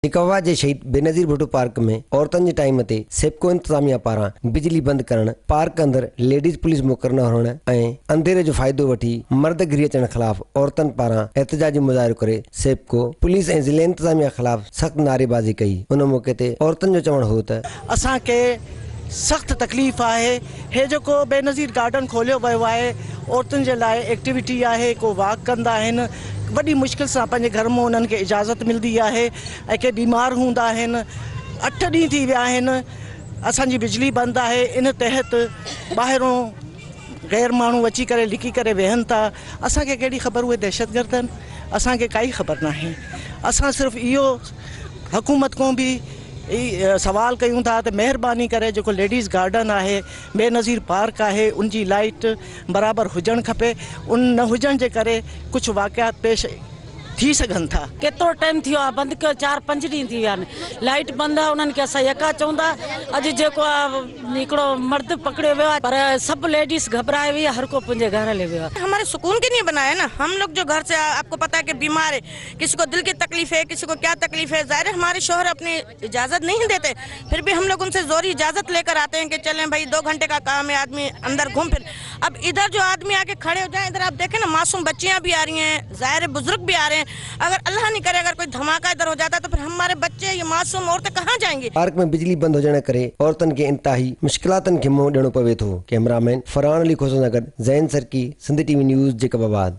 سکاوا جي شهيد بينظير ڀٽو پارڪ ۾ عورتن جي ٽائيم تي سيپڪو انتظاميا پاران بجلي بند ڪرڻ، پارڪ اندر ليڊيز پوليس مقرر نه هئڻ ۽ انڌيري جو فائدو وٺي مرد گهري اچڻ خلاف عورتن پاران احتجاجي مظاهرو ڪري سيپڪو، پوليس ۽ ضلعي انتظاميا خلاف سخت نعريبازي ڪئي، ان موقعي تي عورتن جو چوڻ هو ته. اسان کي سخت تڪليف آهي هي جيڪو بينظير گارڊن کوليو ويو آهي عورتن جي لاء ايڪٽيوٽي آهي ڪو واڪ ڪندا آهن وڏي مشڪل سان پنهنجي گهر مون انهن کي اجازت ملدي آهي ۽ ڪي بيمار هوندا آهن اٺ ڏينهن ٿي ويا آهن اسان جي بجلي بند آهي ان تحت ٻاهرون غير ماڻهو اچي ڪري لڪي ڪري ويهن ٿا اسان کي ڪهڙي خبر اهي دهشتگرد آهن اسان کي ڪائي خبر ناهي اسان صرف اهو حڪومت کون به اهي سوال ڪيون ٿا ته مهرباني ڪري جيڪو ليڊيز گارڊن آهي بينظير پارڪ آهي ان جي لائيٽ برابر هجڻ کپي ان نه هجڻ جي ڪري ڪجهه واقعات پيش ٿي سگهن ٿا. ڪيترو ٽائيم ٿي ويو آهي بند ڪيو چار پنج ڏينهن ٿي ويا آهن لائيٽ بند آهي انهن کي اسان يڪا چئون ٿا اڄ جيڪو آهي هڪڙو مرد پڪڙيو ويو آهي پر سڀ ليڊيز گهٻرائي وئي آهي هر ڪو پنهنجي گهر هليو ويو آهي. هماري سڪون ڪي لئي بنايا نا هم لوگ جو گهر سي آپڪو پتا هي ڪي بيمار هي. کس کو دل کي تڪليف هي کس کو ڪيا تڪليف هي ظاهر هي هماري شوهر اپني اجازت نهي ديتي پھر بهي هم لوگ انسي زوري اجازت ليڪر آتي هي ڪي چلين بهي دو گهنٽي ڪا ڪام هي آدمي اندر گهوم پھر اب ادهر جو آدمي آڪي کڙي هوجائين ادهر آپ ديکين نا معصوم بچيان بهي آرهي هين ظاهر هي بزرگ بهي آرهي هين اگر الله نهي ڪري اگر ڪوئي ڌماڪا ادهر هوجاتا تو پھر هماري بچي يا معصوم عورتين ڪهان جائين گي. پارڪ ۾ بجلي بند هجڻ ڪري عورتن کي انتهائي مشڪلاتن کي منهن ڏيڻو پوي ٿو، ڪئميرا مين فرحان علي کوسو سان گڏ Zain Sarki, Sindh T V news, Jacob آباد.